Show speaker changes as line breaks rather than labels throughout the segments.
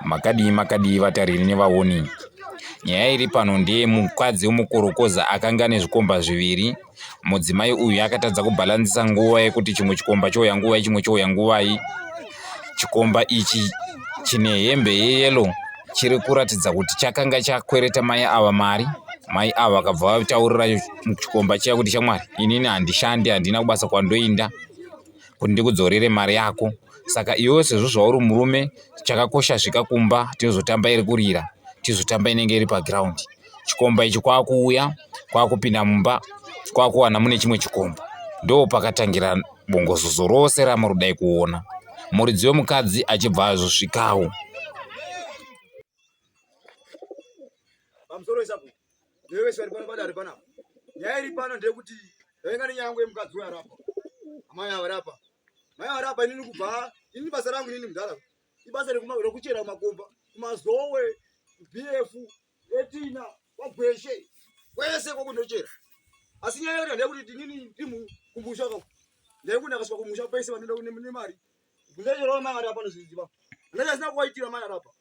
Makadii makadii vatariri nevaoni. Nyaya iri pano ndeye mukadzi wemukorokoza akanga ane zvikomba zviviri. Mudzimai uyu akatadza kubhalanzisa nguva yekuti chimwe chikomba chouya nguvai chimwe chouya nguvai. Chikomba ichi chine hembe yeyelo chiri kuratidza kuti chakanga chakwereta mai ava mari mai ava vakabva vataurira chikomba chiya kuti shamwari inini handishandi handina kubasa kwandoinda kuti ndikudzorere mari yako saka iwewe sezvo zvauri murume chakakosha svika kumba tinozotamba iri kurira tizotamba inenge iri paground chikomba ichi kwakuuya kwakupinda mumba kwakuwana mune chimwe chikomba ndo pakatangira bongozozo rose ramuri dai kuona muridzi wemukadzi achibva azosvikawo
Ndiwe wese ari pano padare panapa. Nyaya iri pano ndeyekuti yainga nenyaya yangu yemukadzi uyo arapa. Amai ava rapa. Mai ava rapa inini kubva inini basa rangu inini mudhara. Ibasa rekuchera kumakomba, kumazowe, BF, etina, kwagweshe. Kwese kwako ndochera. Asi nyaya yanga ndeyekuti inini ndimu kumbusha kwako. Ndayekunda kasvika kumusha pese vanoenda nemari. Ndayerwa mai ava rapa nozviziva. Ndayasina kuwaitira mai ava rapa.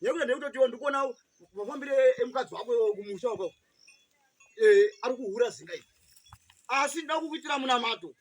nekuda nekutotiwo ndikuona mafambire emukadzi wako kumusha uko eh, ari kuhura zinga iri asi nda kukuitira munamato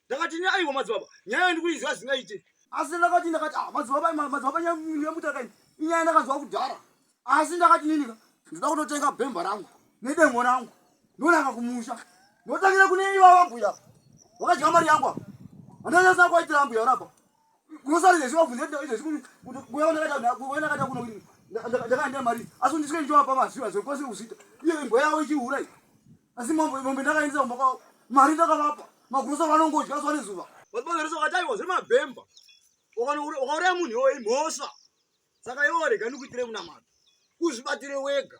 ndakati ne aiwa madzibaba nyaya ndikuiziva zinga ite asi ndakati ndakati ah, madzibaba madzibaba nyamutakaini inyaya ndakaziva kudhara asi ndakati ninika ndida kutotenga bhemba rangu nedemo rangu ndonaka kumusha ndotangira kune iva vambuya vakadya mari yangu apa andanyasa kwaitira ambuya rapa Kunosara izvezvi wabvunza kuti izvezvi kuti kuti kuya wanakata kuya wanakata kuno kuti nda- nda- ndakaenda mari asi ndisike ndichowapa maziva zvekose kuzvita iyo imbwa yawo ichihura iyi asi mombe mombe ndakaendesa kumba kwavo mari ndakavapa magrosa vanongodya zuva nezuva Vabagarisa wakataiwa zviri mabhemba. Ukanoura- Ukauraya munhu iwoyo imhosva. Saka iwe warega ndikuitire kunamata. Uzvibatire wega.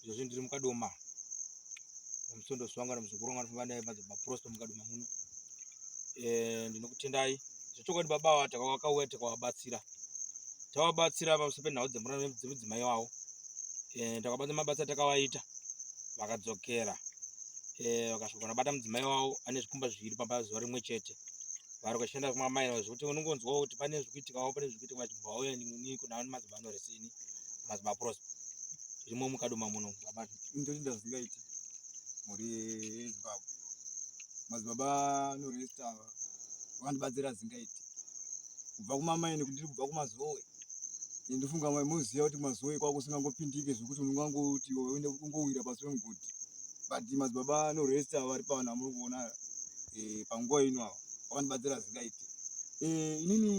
izvozvi ndiri mukadoma musondo swanga nomuzukuru wangu anofamba naye panzi maprosto mukadoma muno eh, ndinokutendai zvechokwadi baba ava takawakauya takawabatsira tawabatsira pamusoro penhau dzemura dzemudzimai wavo eh, takabatsa mabasa takawaita vakadzokera eh, vakasvika vanabata mudzimai wavo ane zvikumba zviviri pamba zuva rimwe chete vari kushanda kumamai zvekuti unongonzwa kuti pane zvikuitikawo pane zvikuitika vachibvauya nini kunaa nemadzimai anoresini mazimaprosa zvirimo mukadoma muno ndochinda zvingaiti
mhuri yezimbabwe madzibaba noresta vandibatsira zingaiti kubva kumamaini kundiri kubva kumazowe ndofunga mai moziva kuti mazowe kwako usingangopindike zvekuti unongangoti uende kungowira pasi pemugodi but madzibaba noresta vari pavana muri kuona eh, panguva ino ava vakandibatsira zingaiti eh, inini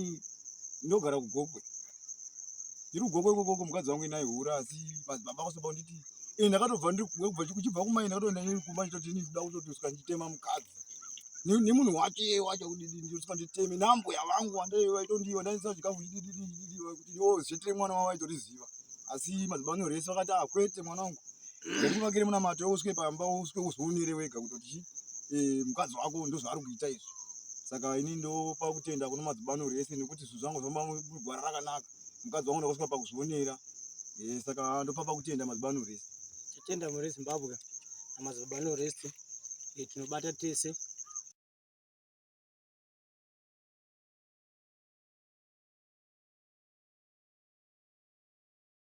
ndogara kugokwe ndiri kugoko ikoko ko mukadzi wangu inai hura asi madzibaba kwasoba kunditi ee ndakatobva ndikubva kuchibva kumai ndakatoenda neni kumba ndichitoti ini ndida kutotosika nditema mukadzi nemunhu wake wacho kudidi ndisika nditeme nambuya vangu wandaivaitondii wandaisa chikafu chidididididi kuti ndiwo zvetere mwana wavo aitoriziva asi madzibaba anyorese vakati ah kwete mwana wangu ndakuvakire munamato uswe pamba uswe uzvionere wega kutoti chii Eh, mukadzi wako ndozvaari kuita izvi saka ini ndopa kutenda kuno madzibano rese nekuti zvinhu zvangu zvamagwara rakanaka mukadzi wangu ndakusvika pakuzvionera eh, saka ndopapa kutenda mazibano rese
tatenda mune zimbabwe namazibano rese eh, tinobata tese